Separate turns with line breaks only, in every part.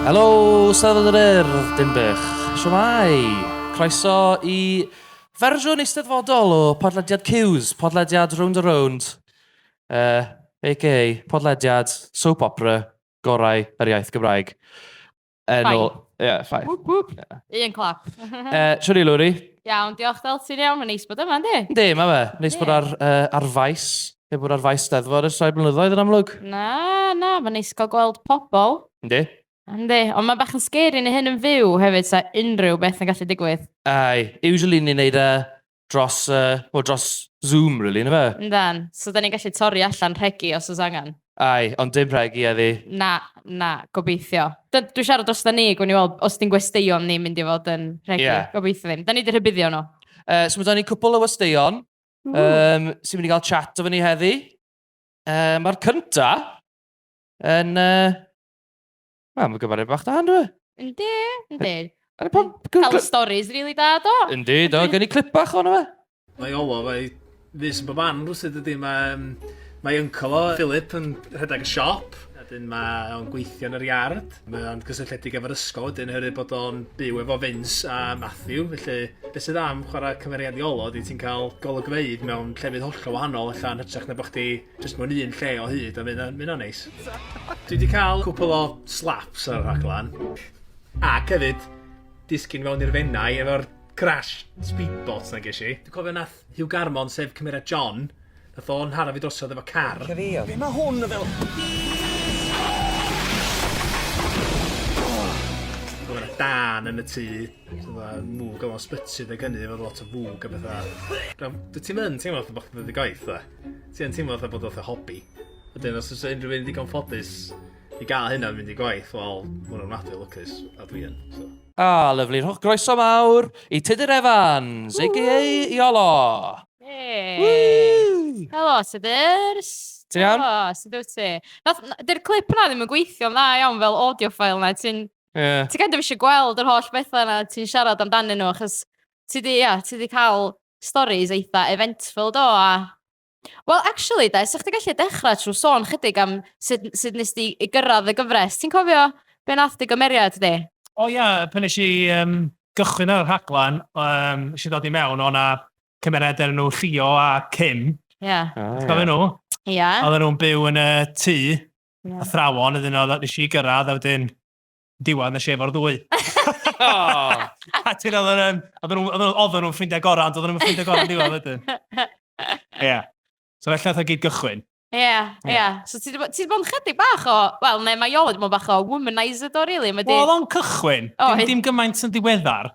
Helo, Steddfod yr Urdd, Dinbych. Siwmai. Croeso i fersiwn eisteddfodol o podlediad Cews, podlediad Round a Round, uh, a.k.a. podlediad soap opera gorau yr iaith Gymraeg. Yn Ffain. ôl- Ie, ffain. Whoop, whoop. Un clap.
Uh, Siwr i Lwri.
Iawn, diolch Deltyn
iawn, mae'n neis bod yma, yndi? Yndi, mae fe. Neis bod
Ie. ar, uh, ar faes. Heb bod ar faes steddfod ers rhai blynyddoedd yn amlwg. Na, na,
mae'n neis cael gweld pobl. Yndi?
Yndi, ond
mae bach yn scary neu hyn yn fyw hefyd, sa unrhyw beth yn gallu digwydd. Ai, usually
ni'n neud uh, dros, uh, well, dros Zoom, really, na fe? Yndan, so da ni'n gallu
torri allan rhegi os oes angen. Ai, ond dim
rhegi a fi. Na, na,
gobeithio. Dwi'n siarad dros da ni, gwn i weld, os ti'n gwesteion ni'n mynd i fod yn rhegi, yeah. gobeithio ddim. Da ni wedi rhybuddio nhw. Uh, so mae da ni cwpl
o westeion um, sy'n mynd i gael chat o fyny heddi. Uh, Mae'r cynta yn... Uh, Wel, mae'n gymaru bach da, ynddo e? Yndi,
yndi. Ar y pam... Cael y stories rili da, do. Yndi, do, gen i clip
bach o'n yma. Mae Olo, mae
fus yn bob man rwsyd dydy. Mae, um, mae uncle o, Philip, yn rhedeg y siop. Wedyn mae o'n gweithio yn yr iard. Mae o'n gysylltiedig efo'r ysgol wedyn hyrru bod o'n byw efo Vince a Matthew. Felly, beth sydd am chwarae cymeriad i olo, ydy ti'n cael golygfeydd mewn llefydd hollol wahanol, allan hytrach na bod chdi Jyst mewn un lle o hyd a mynd mynd o'n neis. Dwi wedi cael cwpl o slaps ar y rhaglen. Ac hefyd, disgyn mewn i'r fennau efo'r crash speedboats na ges i. Dwi'n cofio nath Hugh Garmon, sef cymeriad John, nath o'n hara fi drosodd efo car. Lle fi o? Be mae hwn yn fel? Dwi'n yna dan yn y tŷ, dwi'n mwg o'n sbytsydd ag hynny, efo lot o fwg a bethau. Dwi'n ti'n mynd, ti'n meddwl bod chdi'n dod i gwaith, dda? ti yn teimlo fatha bod o fatha hobi. Wedyn os o's unrhyw un digon ffodus i gael hynna yn mynd i gwaith, wel, ma' hwnna'n ofnadwy o lwcus, a dwi yn, so. A, lyfli. Rhowch
groeso mawr i Tudur Evans, a.k.a Iolo. Hey!
Helo, Tudurs! Ti'n iawn? Helo,
sut wyt ti?
Nath- na- Dy'r clip yna ddim yn gweithio'n dda iawn fel audio file na. Ti'n Ie. ti kind of eisiau gweld yr holl bethau yna ti'n siarad amdanyn nhw, achos Ti 'di, ia, ti 'di cael storis eitha eventful, do, a... Wel, actually 'de, 'sech chdi gallu dechrau trwy sôn chydig am sut sut nes di i gyrraedd y gyfres. Ti'n cofio be nath dy gymeriad di? O ia, pan nes
i yym gychwyn ar y rhaglen, yym, nes i ddod i mewn, o' 'na cymeriad o'r enw Llio a Kim. Ia. O ia.
Cofio nhw?
Ia. Oedden nhw'n
byw yn y
tŷ, athrawon, wedyn oedd... nes i gyrraedd a wedyn Diwan, nes i efo'r ddwy. A ti'n oedden nhw'n... Oedden nhw'n oedden nhw'n ffrindiau gorau, ond oedden nhw'n ffrindiau gorau yn diwedd wedyn. Ie. Yeah. So felly oedd o gyd gychwyn. Ie, yeah, ie. Yeah.
So ti wedi bod yn chydig bach o... Wel, neu mae Iolo wedi bod yn bach o womanizer do, really. Wedi... Wel, o'n cychwyn.
Oh, dim, dim gymaint yn ddiweddar.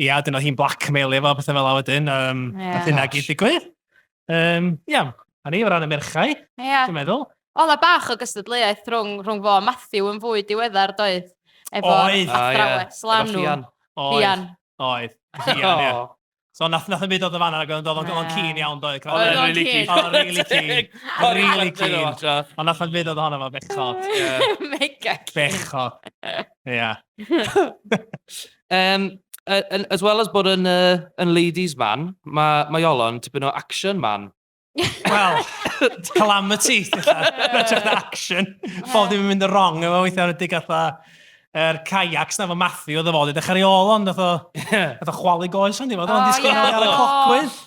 Ie, a dyna hi'n blackmailio fo, pethau fel a wedyn. Um, yeah. Nath hynna gyd digwydd. Um, ia, a ni o ran y merchau, yeah. dwi'n meddwl. O, na bach o
gystadleuaeth rhwng, rhwng fo a Matthew yn fwy diweddar, doedd? Efo Oedd. athrawes oh, yeah. lanw. Fian. Oedd.
Oedd. Fian, ie. So nath, nath yn byd oedd y fan yna, oedd o'n yeah. cyn iawn, doedd? Oedd o'n really cyn. Oedd o'n really
cyn. Oedd o'n
really cyn. Ond nath yn byd oedd ohono fo, bechod. Mega
cyn. Bechod.
Ia. Yym,
yy yn... as well as bod yn yy yn ladies man, ma' mae Iolo yn tipyn o action man. Wel,
calamity, ti'n gwbod, yn hytrach na action. Phob dim yn mynd yn wrong efo fo weithiau yn enwedig fatha yr kayaks 'na efo Matthew oedd o fod i ddechrau ar ei ôl o ond wnaeth o... ie... wnaeth o chwalu goes ynddi, oedd o'n disgwyl i gael y clogwydd.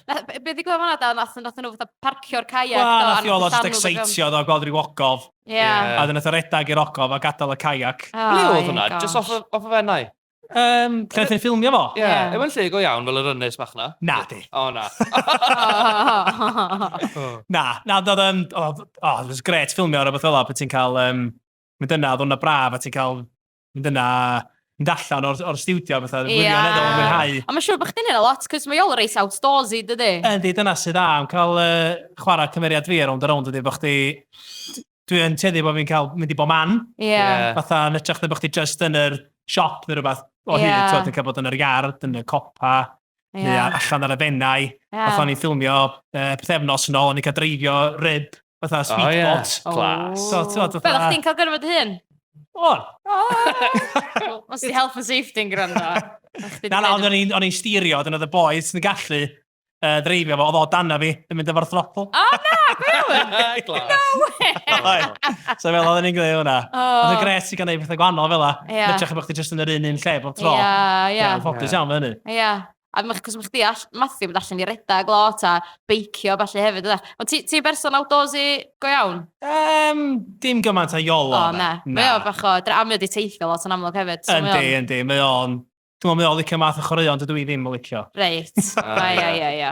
Be ddigwyddodd
fan'na de, wnaethon nhw fatha parcio'r kayak do... Wel, wnaeth Iolo jyst
ecseittio do, gweld ryw ogof. Ie. A wedyn nath o redag i'r ogof a gadael y kayak. O, Ble oedd ie, hwnna? Just
off gosh. y, off y fennau? Yym, lle nath
ni ffilmio fo? Ie. Ie. Yw e'n lle go iawn,
fel yr ynys bach na? Nadi. O, na. O.
Na, na, oedd um, oedd, oh, it was great ffilmio ar rhywbeth fel 'na, pan ti'n cael, um, mynd yna, oedd hwnna braf, a ti'n cael mynd yna mynd allan o'r, or studio a bethau, yeah. wirioneddol yn mwynhau. A mae'n siŵr bod chdi'n hyn a lot,
cos mae ol reis outdoorsy, dydy? Yndi, dyna sydd dda,
am cael uh, chwarae cymeriad fi ar ond ar ond, dydy, bod chdi... Dwi'n teddu bod fi'n cael mynd i bo man. Ie. Yeah. Yeah. Fatha, yn ytrach na bod chdi just yn yr siop neu rhywbeth o yeah. hyd, ti'n cael bod yn yr iard, yn y copa, Yeah. Neu allan ar y fennau. Yeah. Fatha ni'n ffilmio uh, pethefnos yn ôl, o'n i'n cael dreifio rib, fatha speedboat. Oh, yeah. Oh. Class. So, so,
so, Fel, chdi'n cael
gyrfod hyn? O! Os di health and safety yn gwrando. Na, na, ond
o'n i'n styrio, dyna oedd y boys yn gallu uh, dreifio fo, oedd o dan fi, yn mynd efo'r throttle. O, na, gwywn! No
way! so fel oedd ni'n gwneud
hwnna. Oedd y gres i gael gwneud pethau gwahanol fel la. Yeah. Mytrach bod chdi jyst yn yr un un lle bob tro. Ie, ie. Ffocus iawn fe hynny. Ia, a ma' 'c'os
ma' chdi all- Mathew mynd allan i redag lot a beicio a ballu hefyd ynde? Ond ti ti'n berson outdoorsy go iawn? Yym, dim
gymaint â Iolo na. O na. Mae o bach
o dra- a mae o 'di teithio lot yn amlwg hefyd so mae o'n... Yndi yndi mae o'n
t'mo' mae o'n licio math o chwaraeon dydw i ddim yn licio. Reit.
Ia ia ia.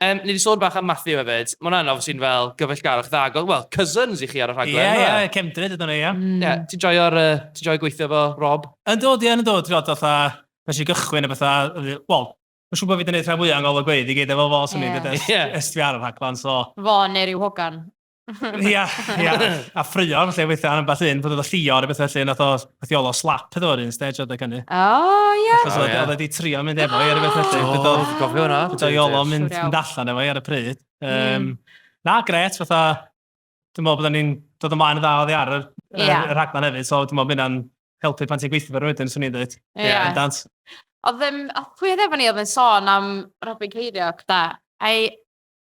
Yym, ni 'di sôn
bach am Matthew hefyd. Mae hwnna'n obviously yn fel gyfeillgarwch dda ag oedd, wel, cousins i chi ar y rhaglen, Ie, yndyfe? ie, cefndryd ydyn nhw, ie. Ie,
ti'n joio'r, yy,
ti'n joio gweithio efo Rob? Yndw, dwi yn, yndw, ti'n
gwbod, fatha, pan nes i gychwyn a petha, oedd hi, wel, mae'n siŵr bod fi 'di neud rhan fwya o Ngol y Gweid i gyd efo fo, swn i'n deud, ers... Ie. ...ers dwi ar y rhaglen, so... Fo neu ryw hogan?
Ia,
ia. A ffrio yn lle weithio am beth un, fod oedd y llio ar y beth felly, nath o athiolo slap iddo o'r un stage oedd y cynnu. O, ia. Achos
oedd oedd wedi
trio mynd efo i ar y beth felly. O, dwi'n gofio hwnna. Beth oedd
iolo mynd, mynd
allan efo i ar y pryd. Um, na, gret, fatha, dwi'n meddwl bod ni'n dod ymlaen y dda oedd i ar y, yeah. y rhaglen hefyd, so dwi'n meddwl bod hynna'n helpu pan ti'n gweithio fe rwy'n swn i'n dweud. Ie. Yeah. Dant. Oedd
ddim, pwy oedd efo ni oedd yn sôn am Robin Ceiriog, da? Ai,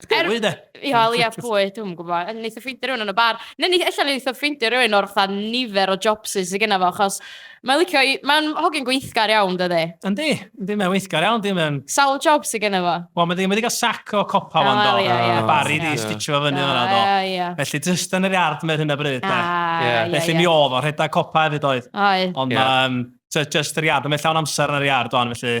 Bwy de?
Ia, ia, pwy,
dwi'n gwybod. Neith o ffeindio rhywun yn y bar. Neu neith, allan neith o ffeindio rhywun o'r fatha nifer o jobsys sydd genna fo, achos mae'n licio i... Mae'n hogyn gweithgar iawn, dydy. Yndi, yndi, mae'n
weithgar iawn, dim yn... Sawl job sydd genna
fo? Wel, mae wedi cael sac
o copa fan do. Ia, ia. Bari di stitio fo fyny fanna do. Ia, ia. Felly, jyst yn yr iard mae'r hyn o bryd. Ia, ia. Felly, mi oedd o, rhedeg copa hefyd oedd. Oedd. Ond, just yr iard, mae llawn amser yn yr iard o'n, felly...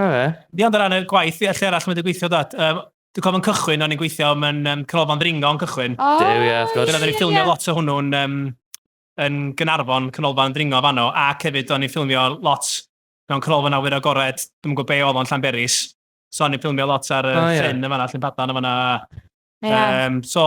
O fe? Ie, ond o ran y gwaith, ie, lle arall mae wedi gweithio, dad? Um, Dwi'n cofio'n cychwyn, o'n i'n gweithio mewn um, canolfan ddringo yn cychwyn. O, Dew, ie, wrth gwrs. Dyna, oedden ni'n ffilmio lot o hwnnw'n um, yn Gynarfon, canolfan ddringo fanno, ac hefyd o'n i'n ffilmio lot mewn canolfan awyr agored, dwi'n gwybod be oedd o'n Llanberis. So o'n i'n ffilmio lot ar y oh, yeah. ffrin yn fanna, Llyn Padan yn fanna. Yeah. Um, so,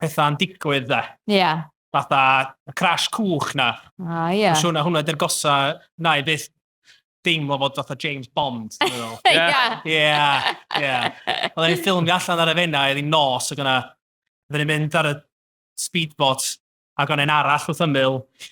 pethau yn digwydd de. Ie. Yeah. Fatha y crash cwch na. A ah, ie. Yeah. Siwna hwnna dy'r gosa na i byth deimlo fod fatha James Bond. Ie. Ie. Ie. Oedden ni'n ffilmio allan ar y fenna, oedd hi'n nos, ac yna, oedden ni'n mynd ar y speedboat, ac o'n un arall wrth ymyl,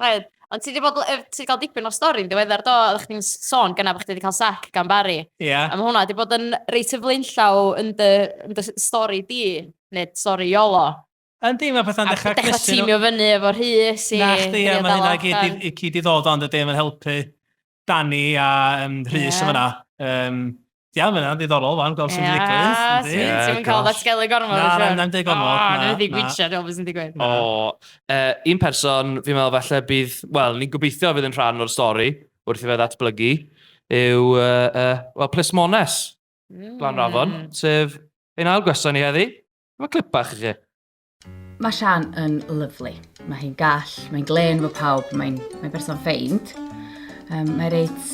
Oedd.
Ond ti wedi bod, ti wedi cael dipyn o'r stori'n diweddar do, oeddech chdi'n sôn gyna bod chdi wedi cael sac gan Barry. Ie. Yeah. A mae hwnna wedi bod
yn
reit y flaenllaw yn dy, yn dy stori di, neu stori Iolo. Yndi, mae pethau'n
dechrau cnesu. A dechrau tîmio fyny
efo Rhys i... Na chdi, a mae hynna
gyd i ddod ond y dim yn helpu. Dani a um, Rhys yeah. yn fyna. Um, Ia, yeah, mae'n ddiddorol fan, gweld sy'n yeah, digwydd. Ie, yeah, ti'n cael that
sgelu gormod. Na, na, na'n dweud gormod. O,
na, wedi gwitio, dwi'n
meddwl sy'n digwydd. O, uh,
un person, fi'n meddwl falle bydd, wel, ni'n gobeithio fydd yn rhan o'r stori, wrth i fe ddatblygu, yw, uh, uh, well, Plismones, mm. Glan Rafon, sef ein ail gwestiwn ni heddi. Mae clip bach i chi. Mae
Sian yn lyflu. Mae hi'n gall, mae'n glen fo pawb, mae'n mae berson ffeind. Um, mae reit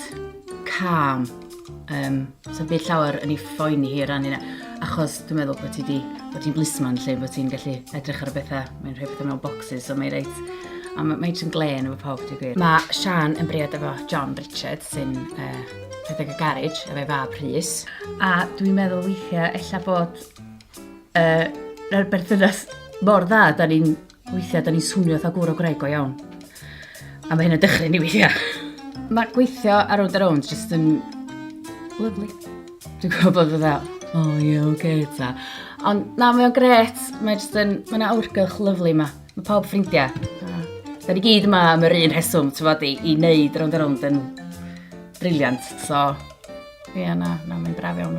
calm. Um, so byd llawer yn ei ffoen i hi ran yna. Achos dwi'n meddwl bod ti di, bod ti'n blismon lle, bod ti'n gallu edrych ar y bethau, mae'n rhoi bethau mewn boxes, so mae reit a mae mae yn glen efo pawb, dwi'n gwir. Mae Sian yn briod efo John Richard, sy'n uh, rhedeg y garage, efo ei fab Rhys. A dwi'n meddwl weithiau, ella bod Uh, Rhaid berthynas mor dda, da ni'n weithiau, da ni'n swnio fatha gwr o Greg o iawn. A mae hyn yn dechrau ni weithiau. Mae gweithio ar Round Around jyst yn lyflu. Dwi'n gwybod bod fydda, o oh, ie, yeah, okay, ta. Ond na, mae o'n gret, mae jyst yn, mae yna awrgylch lyflu yma. Mae pawb ffrindiau. Da ni gyd yma am yr un rheswm, ti'n fawr, i, i wneud Round Around yn briliant. So, ie, yeah, na, na, mae'n braf iawn.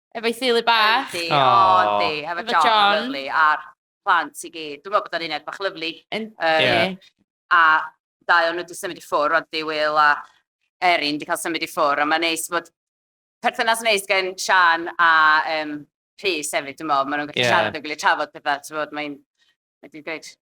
Efo'i theulu bach. Yndi, o, yndi.
Efo John, John. lyflu,
a'r
plant i gyd. Dwi'n meddwl bod o'n uned bach lyflu. Yndi. A dau
o'n nhw wedi symud i ffwrdd, rwan di Will a Erin wedi cael symud i ffwrdd, a mae'n neis bod perthynas neis gen Sian a um, Rhys hefyd, dwi'n meddwl. Maen nhw'n gallu yeah. siarad yn gwylio trafod pethau, ti'n bod, mae'n... Mae'n dweud,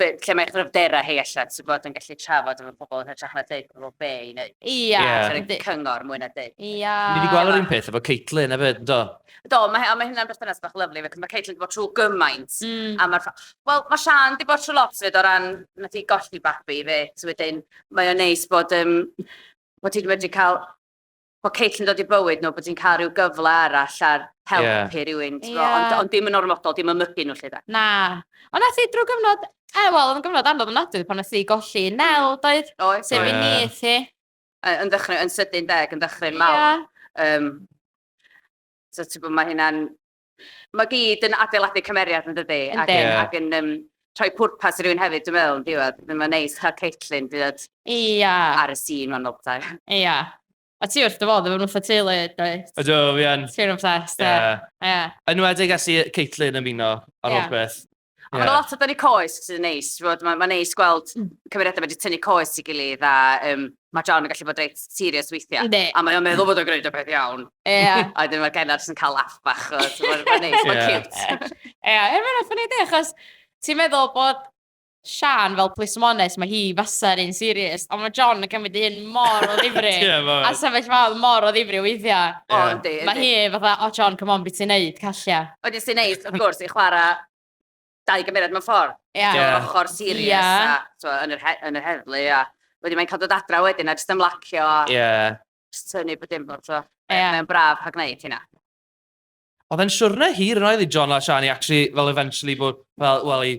be, lle mae gryfderau hi allan, sy'n bod yn gallu trafod efo pobl yn hytrach na dweud pobl be i wneud. Ia. Yeah. cyngor mwy na dweud. Ia. Ni wedi gweld yr un
peth
efo Caitlin hefyd, do? Do, mae, mae
hynna'n berthynas bach lyflu, fe, mae Caitlin wedi bod trwy gymaint. Mm. A mae'r... Wel, mae Sian wedi bod trwy lot fyd o ran, nath i golli babi fe, so wedyn, mae o'n neis bod, um, bod ti'n wedi cael bod Kate yn dod i bywyd nhw, bod hi'n cael rhyw gyfle arall ar helpu yeah. rhywun, ti'n yeah. ond, ond dim yn ormodol, dim yn mygu nhw lle da. Na. Ond nes
i drwy gyfnod, e, wel, oedd yn gyfnod anodd yn adwy pan nes i golli nel, doedd? Oes. Sef i ni, ti. Yn ddechrau,
yn sydyn deg, yn ddechrau mawr. Yeah. Um, so, ti'n bod, mae hynna'n Mae gyd yn adeiladu cymeriad yn dydi? Ac yn, ac yn um, rhoi pwrpas i rywun hefyd, dwi'n meddwl, yn diwedd. Mae'n neis cael Caitlin dod Ia. ar y sîn mewn nobtai. Ia.
A ti wrth dy fodd efo nhw fatha teulu, dwyt? Ydw, fi yn. Ti'n
obsessed,
ie. Ie. Yn
enwedig ers i Caitlin ymuno ar holl beth. Ond yeah. lot o dynnu
coes sy'n neis. Mae'n ma neis gweld hmm. cymeriadau wedi tynnu coes i gilydd a um, mae John yn gallu bod reit serious weithiau. Ne. A mae'n meddwl bod o'n gwneud o beth iawn. Yeah. a wedyn mae'r genod sy'n cael laff bach. Mae'n neis, mae'n cute. Ie, er mae'n ffynnu
di, achos ti'n meddwl bod Sian fel plismones, mae hi fasa'r un serious, ond mae John yn cymryd un mor o ddifri. yeah, a sefyll fawr mor o ddifri weithiau. Yeah. Mae hi fatha, o oh, John, come on, beth ti'n neud, callia. Wedyn sy'n neis, wrth
gwrs, i chwarae dau gymeriad mewn ffordd. Ie. Ie. O'r ochr serious Ie. a, t'mo', yn yr he- yn yr heddlu a wedyn mae'n cael dod adra wedyn a jyst ymlacio a... Ie. ...jyst tynnu bod dim lot o... Ie. ...mae'n braf cael gwneud hynna.
Oedd e'n siwrne hir yn oedd i John a Shani actually fel eventually bod fel, wel i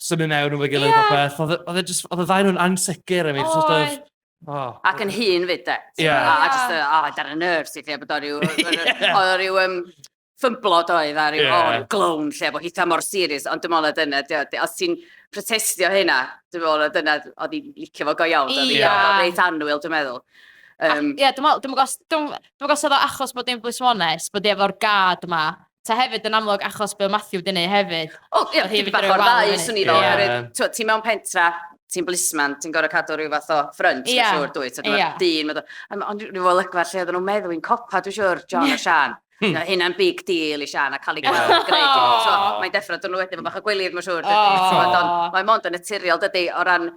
Symud mewn nhw'n fy gilydd yeah. popeth. Oedd e, e just, oedd y ddau nhw'n ansicr. I mean, sort of, Oh.
Ac yn hun fyd, de. Yeah. A, a just, a, oh, dar y nerves i lle bod o rhyw... Oedd o rhyw... Um, ffymblod oedd ar ryw yeah. oh, glown lle bod hitha mor serious, ond dim ond oedd yna, os ti'n protestio hynna, dim ond oedd yna, oedd i'n licio fo go iawn, oedd i'n reit anwyl, dwi'n meddwl. Um, Ie, dwi'n
meddwl, dwi'n meddwl, dwi'n meddwl, oedd o achos bod dim blismones, bod efo'r gad yma, ta hefyd yn amlwg achos be oedd Matthew wedi gwneud hefyd. Wel, ie, ti'n bach o'r
ddau, swn i fel. Ti'n mewn pentra, ti'n blisman, ti'n gorau cadw rhyw fath o ffrynt, dwi'n siŵr, dwyt. Mae'r dyn, ond rhyw fel ygfa lle oedden nhw'n meddwl i'n copa, dwi'n siŵr, John a Sian. Hynna'n big deal i Sian a cael ei gweld yn gwneud. Mae'n deffro dyn nhw wedyn, mae bach o gwilydd, mae'n siŵr. Mae'n mond yn naturiol, dydy, o ran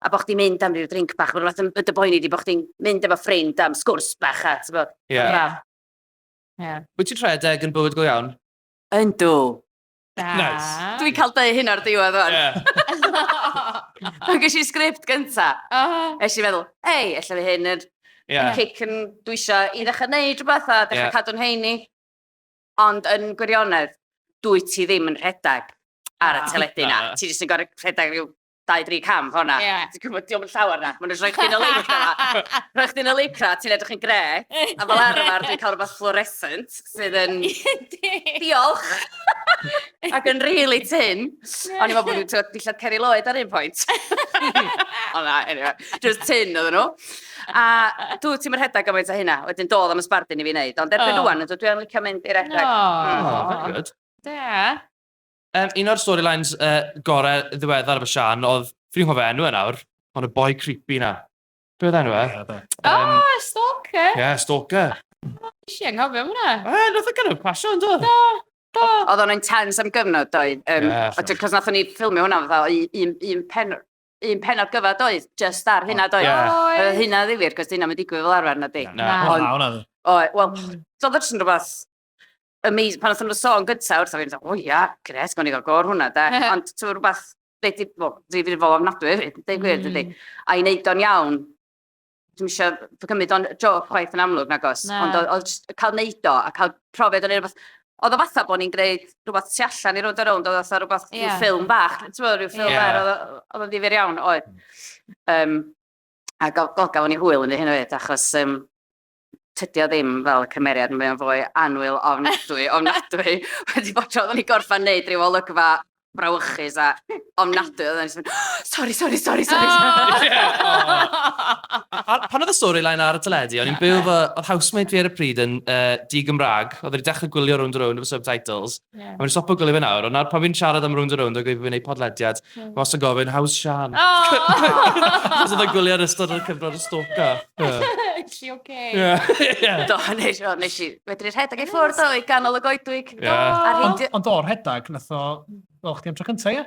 a bo' chdi'n mynd am ryw drinc bach, ma' rwbath yn yn dy boeni di, bo' chdi'n mynd efo ffrind am sgwrs bach a t'bo', ma'n braf. Ie.
Wyt ti'n rhedeg yn bywyd go iawn? Yndw! Da!
Neis!
Dwi'n cael deu
hyn o'r diwedd ŵan. Ie. Pan ges i'r sgript gynta, es i feddwl, hei, ella fydd hyn yn yn cic yn dwi isio i ddechrau wneud rhywbeth a dechrau cadw'n heini. Ond yn gwirionedd, dwyt ti ddim yn rhedeg ar y teledu na, ti jyst yn gorfod rhedeg ryw dau, dri cam, fel yna. Ie. Ti'n gwybod, diolch yn
llawer
na. Mae'n rhoi chdi'n y leicra. Rhoi chdi'n y leicra, ti'n edrych yn gre. A fel arfer, dwi'n cael rhywbeth fluorescent sydd yn... Diolch! Ac yn really tin. O'n i'n meddwl bod nhw'n tywed dillad Ceri Lloyd ar un pwynt. o na, anyway. Just tin oedd nhw. A dwi ti'n mynd rhedeg gymaint o hynna. Wedyn dod am y sbardun i fi wneud. Ond erbyn oh. rwan, dwi'n licio mynd i'r rhedeg. No. Mm. Oh,
very good. Da. Um, un o'r storylines uh, gorau ddiweddar fy Sian oedd, fi'n hof enw yn e awr, ond y boi creepy na. Be oedd enw e? Um, oh, Stalker!
Ie, yeah, Stalker.
Nes i
anghofio hwnna. E, nath o gynnwys pasio
yn dod. Do. Oedd o'n
intense am gyfnod, doedd. Um, yeah, sure. Cos nath ni ffilmio hwnna fatha un, un pen un penod gyfa doedd, just ar hynna doedd. Yeah. Hynna ddifir, cos dyna mae'n digwydd fel arfer na di. Na, hwnna. Wel, doedd o'n jyst yn rhywbeth amazing, pan oedden nhw'n sôn gyntaf wrtho fi, o'n i'n meddwl, o ia, gret, gawn ni gael gor hwnna, de. Ond ti'n rhywbeth, dwi wedi bod difrifol ofnadwy hefyd, dweud gwir, dydy. A i wneud o'n iawn, dwi'n eisiau cymryd o'n joc chwaith yn amlwg, nag os. Ond oedd cael wneud o, a cael profiad o'n ei rhywbeth... Oedd o fatha bod ni'n gwneud rhywbeth tu allan i rownd a rownd, oedd o fatha rhywbeth, rhyw ffilm bach, ti'n meddwl, rhyw ffilm bach, oedd o'n ddifyr iawn, oedd. A gofyn i hwyl yn ei hyn o hyd, achos... tydi o ddim fel cymeriad, mae o'n fwy anwyl ofnadwy, ofnadwy. Wedi bod tro, oedden ni gorffan neud rhyw olygfa brawychus a ofnadwy, oedden ni'n mynd, sori, sori, sori, sori.
Pan oedd y storyline ar y teledu, o'n i'n byw fy, oedd housemate fi ar y pryd yn uh, di-Gymraeg, oedd wedi dechrau gwylio Round Round efo subtitles, Ie. A fi'n stopo gwylio fe nawr, ond nawr pan fi'n siarad am Rownd a Rownd ac fi'n ei podlediad, fi wastad yn gofyn, how's Sian? Achos oedd e'n gwylio ar ystod o'r cyfnod o stalker. Is she
okay? Yeah. Do,
nes, o, nes i fedru rhedeg i ffwrdd o i ganol y goedwig. Ie. Ar Ond, heidio... ond do,
rhedag, nath o... Wel, chdi am tro cynta, ie?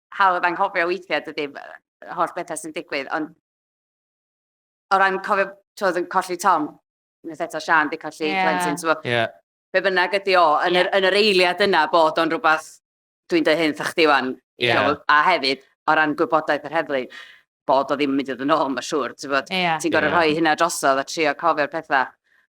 hawdd anghofio weithiau, dydy, yr holl bethau sy'n digwydd, ond o ran cofio, twyd, yn colli Tom, nes eto Sian di colli yeah. Clinton, so, yeah. be bynnag ydi o, yn, yeah. yr, yn yr eiliad yna bod o'n rhywbeth, dwi'n dweud hyn, thach chdi wan, yeah. so, a hefyd, o ran gwybodaeth yr heddlu, bod o ddim yn mynd i ddod yn ôl, mae'n siŵr, ti'n yeah. ti gorau yeah. rhoi hynna drosodd a trio cofio'r pethau.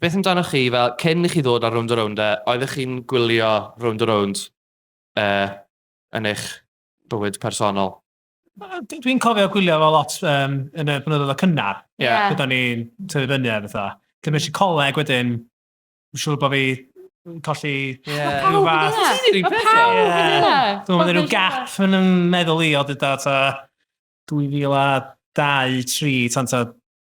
beth amdanoch chi, fel, cyn i chi ddod ar Rownd a Rownd e, oeddech chi'n gwylio Rownd a Rownd e, yn eich bywyd personol? Dwi'n
cofio gwylio fel lot um, yn y blynyddoedd o cynnar. Ie. Yeah. Yeah. Byddwn ni'n tyfu fyny ar fatha. Dyma eisiau coleg wedyn, yn siŵr bod fi colli yeah. rhyw
fath. Mae
pawb yn
yna. Dwi'n meddwl rhyw
gap yn ymwneud meddwl i o dyda ta 2002, 3, tan ta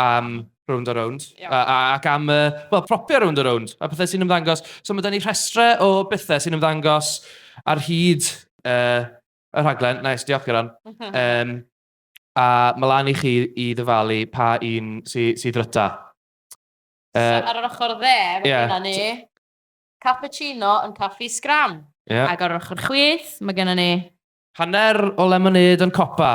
am rownd a rownd, ac am y, wel, propio rownd a rownd, a pethau sy'n ymddangos. So mae da ni rhestrau o bethau sy'n ymddangos ar hyd uh, y rhaglen. Nice, diolch Geron. Um, a mae lan i chi i ddyfalu pa un sydd sy ddryta. Uh, so,
ar yr ochr dde, mae yeah. gennym ni cappuccino yn caffi scram. Yeah. Ac ar yr ochr chwith, mae gennym ni... Hanner o
lemonade yn copa.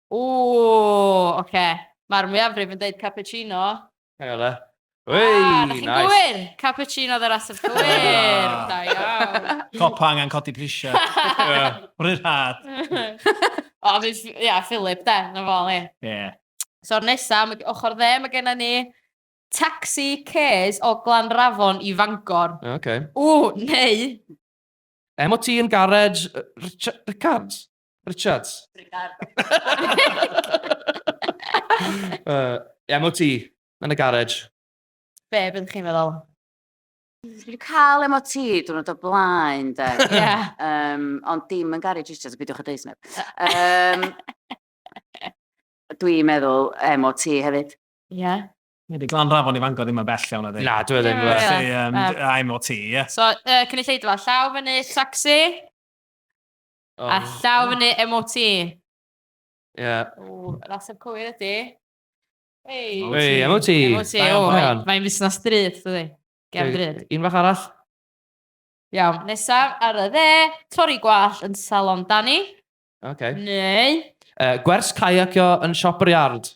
Ooh, oce. Mae'r mwyafrif yn deud cappuccino. Hang on,
eh? Wei, nice!
Ah, da chi'n gywir!
Cappuccino
oedd yr ateb cywir! Da iawn! Copa angen codi
prisiau. Rhy rhad.
O, fi, ia, Philip, de, na fo, ni. Ie. So'r
nesa,
am y ochr dde, mae gennym ni Taxi Cares o Glanrafon i Fangor. O, Oce. Ww,
neu... MOT yn garej Richard- Rickards? Richards. Richards. uh, MOT, yn y garej. Be,
beth chi'n meddwl?
Dwi wedi cael MOT diwrnod o blaen, de. yeah. um,
ond
dim yn garej Richards, bydwch y deis neb. Um, Dwi'n meddwl MOT hefyd. Ie. Yeah.
Wedi glan rafon
i fango ddim yn bell iawn o ddi. Na, dwi e ddim. Yeah, yeah. yeah.
um, yeah.
MOT, ie. Yeah. So, uh, cynulleidfa,
llaw fyny, taxi. A llaw fyny MOT. Ie.
Ww, yr ateb
cywir ydy. Ei. MOT. Ei, MOT. MOT, Da iawn, o, da mae-
iawn.
mae'n fusnes drud, dydy. Gem drud. Un fach arall.
Iawn,
nesaf ar y dde, torri gwallt yn salon Dani, Oce. neu... Yy, gwers
caiacio yn siop yr iard.